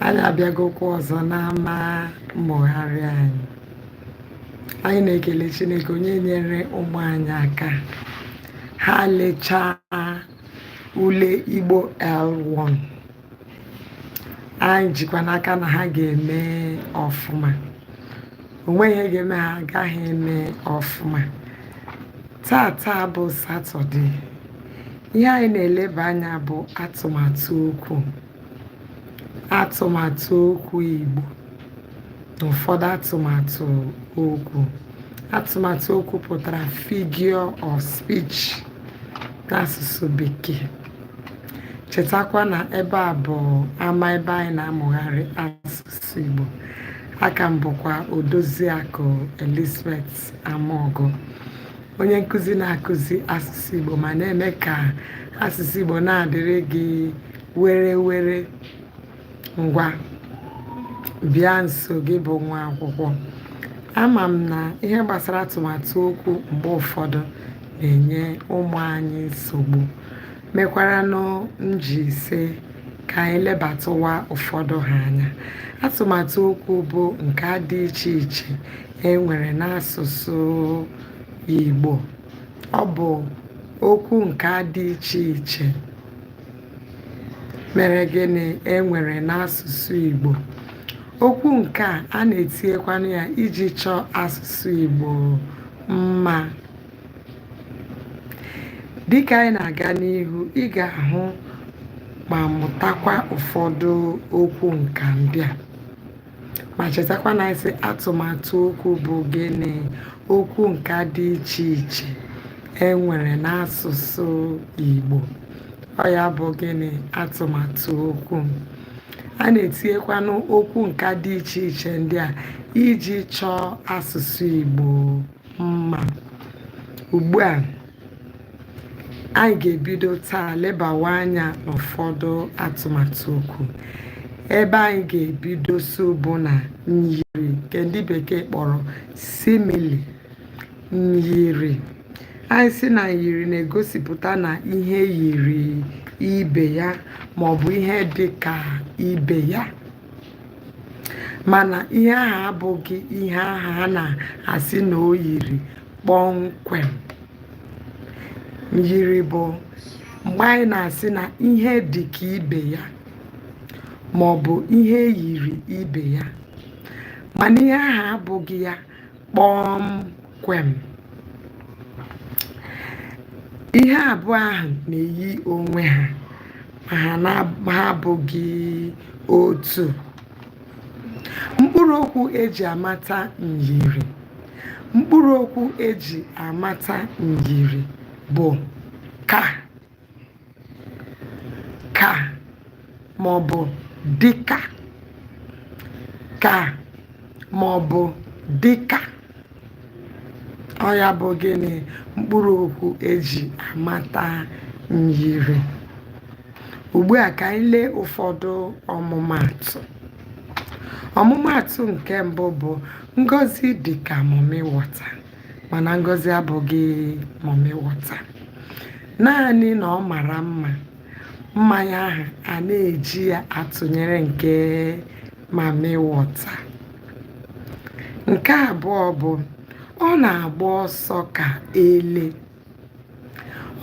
anyị abịagokwa ọzọ n'ama mmụgharị anyị anyị na-ekele chineke onye nyere ụmụ anyị aka ha lechaa ule igbo l1 anyị jikwa n'aka na ha ga-eme ọfụma o nweghị ihe ga-eme ha agaghị eme ọfụma taa taa bụ satọde ihe anyị na-eleba anya bụ atụmatụ okwu atụmatụ okwu igbo na ụfọdụ atụmatụ okwu atụmatụ okwu pụtara figure of speech n'asụsụ bekee chetakwa na ebe a bụ ama ebe anyị na-amụgharị asụsụ Igbo a ka m bụkwa Odoziakụ Elizabeth Amaogo onye nkụzi na-akụzi asụsụ Igbo ma na-eme ka asụsụ Igbo na-adịrị gị werewere ngwa bịa nso gị bụ nwa akwụkwọ ama m na ihe gbasara atụmatụ okwu mgbe ụfọdụ na-enye ụmụ anyị nsogbu mekwaranụ m ji sị ka anyị lebatụwa ụfọdụ ha anya. Atụmatụ okwu bụ nka dị iche iche e nwere n'asụsụ Igbo. Ọ bụ okwu nka dị iche iche mere gịnị e nwere n'asụsụ Igbo. Okwu nka a, a na-etinyekwanụ ya iji chọọ asụsụ Igbo mma. dịkà anyị na-aga n'ihu ị ga-ahụ ma mụtakwa ụfọdụ okwu nka ndị a ma chetakwa na anyị sị atụmatụ okwu bụ gịnị okwu nka dị iche iche e nwere n'asụsụ Igbo ọ ya bụ gịnị atụmatụ okwu a na-etinyekwanụ okwu nka dị iche iche ndị a iji chọọ asụsụ Igbo mma ugbu a anyị ga-ebido taa lebawa anya n'ụfọdụ atụmatụ okwu ebe anyị ga-ebido so bụ na myiri nke ndị bekee kpọrọ simile myiri anyị sị na myiri na-egosipụta na ihe yiri ibe ya maọbụ ihe dị ka ibe ya mana ihe ahụ abụghị ihe ahụ a na-asị na o yiri kpọmkwem myiri bụ mgbe anyị na-asị na ihe dị ka ibe ya ma ọ bụ ihe yiri ibe ya mana ihe ahụ abụghị ya kpọmkwem ihe abụọ ahụ na-eyi onwe ha ma ha na- ma ha abụghị otu mkpụrụ okwu eji amata myiri mkpụrụ okwu eji amata myiri bụ ka ka ma ọ bụ dịka ka ma ọ bụ dịka ọ ya bụ gịnị mkpụrụ okwu eji amata myiri ugbu a ka anyị lee ụfọdụ ọmụmatụ ọmụmatụ nke mbụ bụ ngozi dịka mami wọta mana ngozi abụghị mami wọta naanị na ọ mara mma mma ya ahụ a na-eji ya atụnyere nke mami wọta nke abụọ bụ ọ na-agba ọsọ ka ele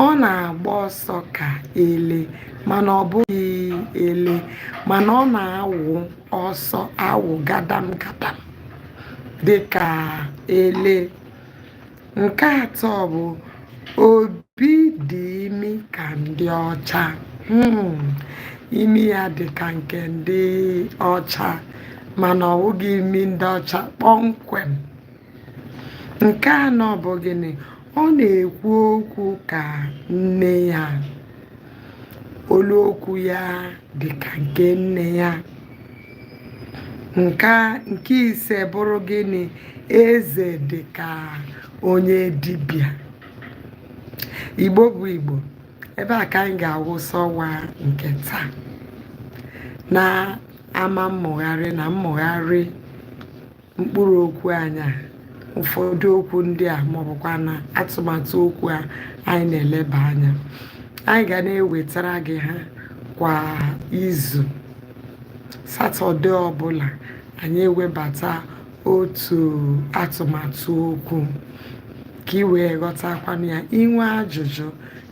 Ọ na-agba ọsọ ka ele mana ọ bụghị ele mana ọ na-awụ ọsọ awụ gadam gadam dịka ele. Nke atọ bụ Obi dị imi ka ndị ọcha. Hmm, imi ya dị ka nke ndị ọcha mana ọ bụghị imi ndị ọcha kpọmkwem. nke anọ bụ gịnị ọ na-ekwu okwu ka nne ya olu okwu ya dị ka nke nne ya nke nke ise bụrụ gịnị eze dị ka onye dibịa igbo bụ igbo ebe a ka anyị ga-awụsa ọwa nke taa na ama mmụgharị na mmụgharị mkpụrụ okwu anyị a ụfọdụ okwu ndị a ma ọ bụkwanụ atụmatụ okwu a anyị na-eleba anya anyị ga na-ewetara gị ha kwa izu satọde ọbụla anyị ewebata otu atụmatụ okwu ka ị wee ghọtakwanụ ya i nwee ajụjụ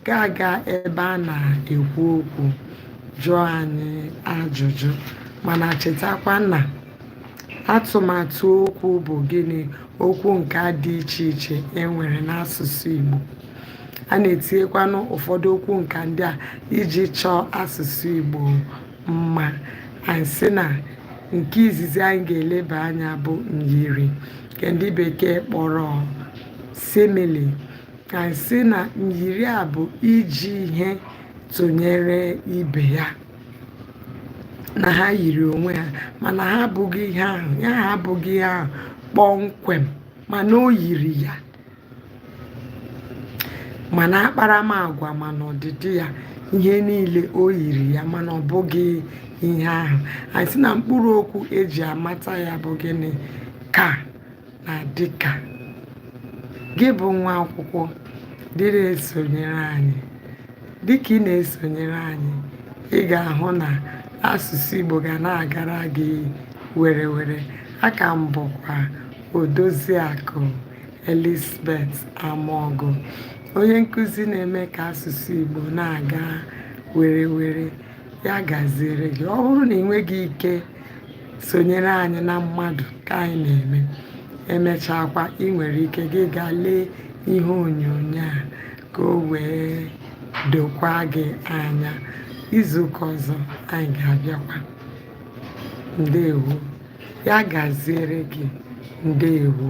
ga-aga ebe a na-ekwu okwu jụọ anyị ajụjụ mana chetakwa na Atụmatụ okwu bụ gịnị? Okwu nka dị iche iche e nwere n'asụsụ Igbo. A na-etinyekwanụ ụfọdụ okwu nka ndị a iji chọọ asụsụ Igbo mma. Anyị sị na nke izizi anyị ga-eleba anya bụ myiri nke ndị bekee kpọrọ simile. Anyị sị na myiri a bụ iji ihe tụnyere ibe ya. nà ha yìrì ònwe hȧ mànà ha bụ̇ghị ihe ahụ̀ ya ha bụ̇ghị ihe ahụ̀ kpọmkwèm mànà o yìrì yà mànà akparamàgwà mànà ọ̀dị̀dị yȧ ihe niilė o yìrì yà mànà ọ̀ bụghị ihe ahụ̀ ànyị sị nà mkpụrụ okwu e jì àmata yȧ bụ̀ gịnị kà na dịka gị bụ nwa akwụkwọ dị na-esonyere anyị dịka ị na-esonyere anyị ị ga-ahụ na asụsụ Igbo ga na-agara gị werewere a ka m bụkwa Odoziakụ Elizabeth Amogu onye nkụzi na-eme ka asụsụ Igbo na-aga werewere ya gaziere gị ọ bụrụ na ị nweghị ike sonyere anyị na mmadụ ka anyị na-eme e mechaakwa ị nwere ike gị gaa lee ihe onyoonyo a ka o wee dokwaa gị anya izuụka ọzọ anyị ga-abịakwa ndewo ya gaziere gị ndewo